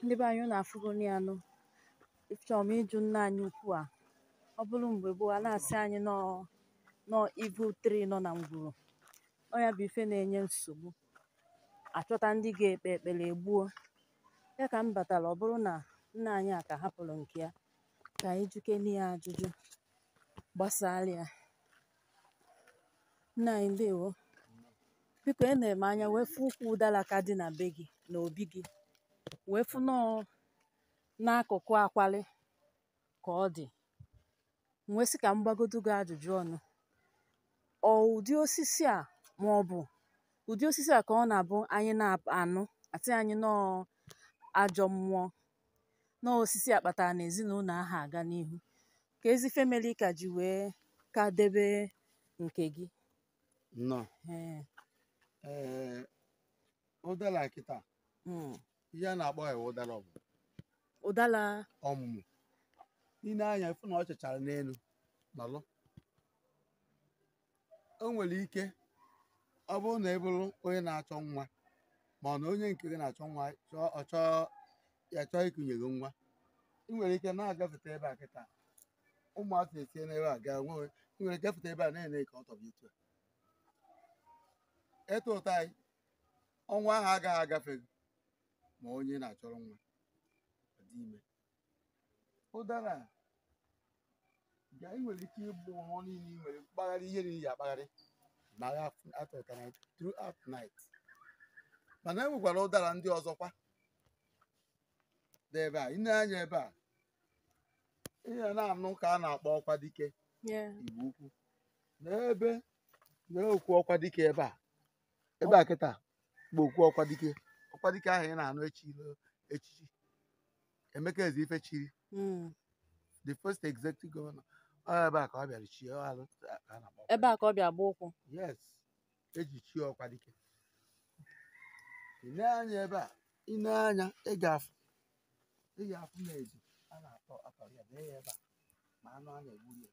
ndị be anyị unu afụgo ya nụ chọrọ m ịjụ nna anyị ukwu a ọ bụrụ mgbe gboo a na-asị anyị na ọ evil tree nọ na ngwuru ọ ya bụ ife na-enye nsogbu a chọta ndị ga-ekpe ekpere e gbuo ya ka m batara ọ bụrụ na nna anyị a ka hapụrụ nke ya ka anyị jụkene ya ajụjụ gbasara ya Nna anyị ndewo. Biko enere m anya wee fụ ukwu ụdala ka dị na be gị na obi gị wee fụ na ọ n'akụkụ akwali ka ọ dị. M wee sị ka m gbagodu gị ajụjụ ọnụ. Ọ ụdị osisi a ma ọ bụ ụdị osisi a ka ọ na-abụ anyị na-anụ a sị anyị na ọ ajọ mmụọ na ọ osisi a kpatara na ezinụlọ aha aga n'ihu keezi ife melu i ka ji wee ka debe nke gị nnọọ Ee, ee ụdala a kịta mm. ihe a na-akpọ ya ụdala ọ bụ ụdala ọmụmụ i nee anya ị fụ na ọ chachara n'elu nọlụ o nwere ike ọ bụrụ na ị bụrụ onye na-achọ nwa ma ọ na onye nke gị na-achọ nwa chọọ ọ chọọ ya chọọ ikunye gị nwa ị nwere ike na-agafeta ebe a kịta ụmụaka esie n'ebe a gaa nwewe ị nwere ike gafeta ebe a na-ene ka ọ tọpụ etu a ị tụta ya ọnwa ahụ agaghị agafe gị ma onye na-achọrọ nwa adị ime ụdara ga ị nwere ike ịbụ ọhụụ niile ị nwere mkpagharị ihe niile ya akpagharị na ya atụtara throughout night mana e nwekwara ụdara ndị ọzọkwa dị ebe a i nee anya ebe a ihe ị na-anụ ka a na-akpọ ọkwa dike igbo ukwu n'ebe na-ekwu ọkwa dike ebe a ebe a kịta bụ okwu ọkwa dike ọkwa dike ahụ ị na-anụ echi echichi emeka ezeife chiri Mm. the first executive governor ọ ebe a ka ọ bịara chie ọ alụ ka a na-akpọ ebe a ka ọ bịa gba ụkwụ yes eji chie ọkwa dike i nee anya ebe a i nee anya ị ga-afụ ị ga-afụ na ezi a na-atọ atọ ya bee ya ebe a ma anụ a na-egburu ya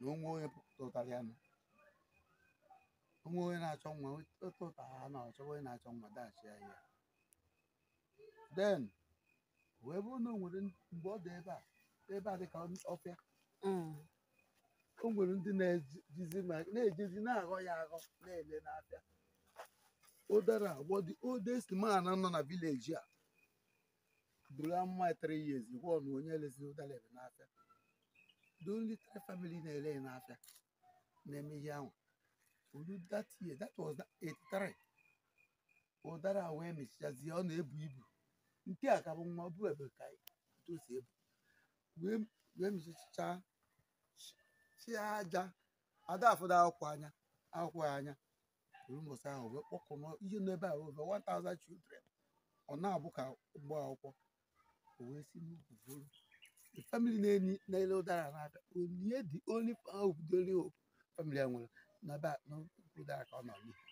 na o nwee onye tụtara ya nụ o nwee onye na-achọ nwa tụta ya na ọ chọọ onye na-achọ nwa dachie ya ihe then wee bụrụ na o nwere ndị- mgbe ọ dị ebe a ebe a dịka ọfịa Mm. o nwere ndị na-ejizi ma- na-ejezi na-aghọ ya aghọ na-ele n'afịa ụdara a gwa the oldest man nọ na village a buru amụma ya three years kwuo na onye elezi ụdara ebe n'afịa the only three family na-ele ya n'afịa na-eme ihe ahụ o lu that year that was 83 ụdara a wee mịchichazie ọ na-ebu ibu nke a ka bụ nwa ọ bụ ebe a ka o si ebu wee wee mịchicha chịa aja a da afụda akwụkwọ anya akwụkwọ ya anya o ruo mbọsị ahụ wee kpọkọọ ihe nọ ebe a over 1000 children ọ na-abụ ka ụgbọ akwụkwọ o wee si n'ukwu buru the family na-enye na-ele ụdara na-abịa onye the only hope the only hope family a nwere na ebe a n'ukwu ụdara ka ọ nọ n'ihu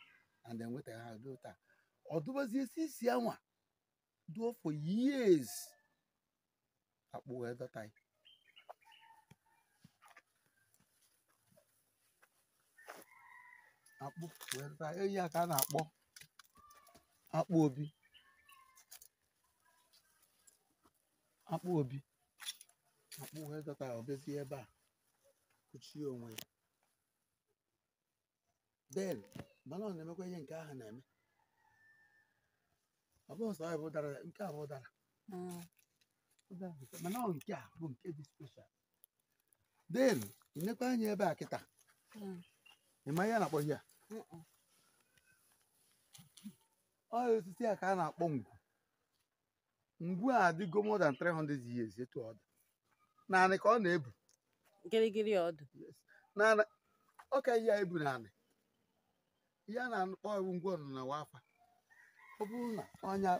and enwetaghị ha ruo taa ọ dụbazie isi isi anwa duo for years akpụ wee dọta ya akpụ wee dọta ya ihe a ka a na-akpọ akpụ obi akpụ obi akpụ wee dọta ya o bezie ebe a kụchie onwe ya then mana ọ na-emekwa ihe nke ahụ na-eme ọ bụghị sọ ya bụ ụdara nke a bụ ụdara Mm. ụdara bụ nke- mana ọ nke a bụ nke dị special then ị nekwa anya ebe a kịta Mm. ị ma ihe a na-akpọ ihe a Mm-mm. ọ osisi a ka a na-akpọ ngwu ngwu a adịgo more than 300 years etu ọ dị naanị ka ọ na-ebu gịrịgịrị ọ dị naanị ọ ka ihe a ebu naanị ihe a na-akpọ iwu ngwu ọnụ na wafa ọ bụrụ na ọnya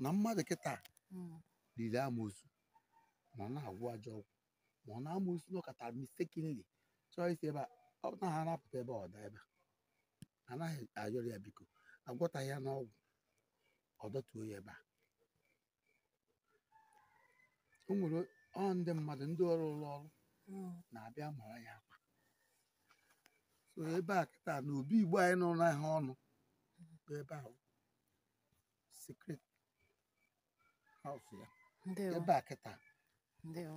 na mmadụ kịta liri amosu ma ọ na-agwọ ajọ ọgwụ ma ọ na-amụ isi na ọ kata mistakenly chọọ isi ebe a ọ naghị anapụta ebe ọ daa ebe a anaghị ayọrọ ya biko agwọtaghị ya n'ọgwụ ọ dọtuo ya ebe a o nwere ọ ndị mmadụ ndị ọrụ ụlọ ọrụ na-abịa mara ya akwa so ebe a kịta na Obi Igbo anyị nọ n'ahịa ọnụ bụ ebe ahụ secret house ya ndewo ebe a kịta ndewo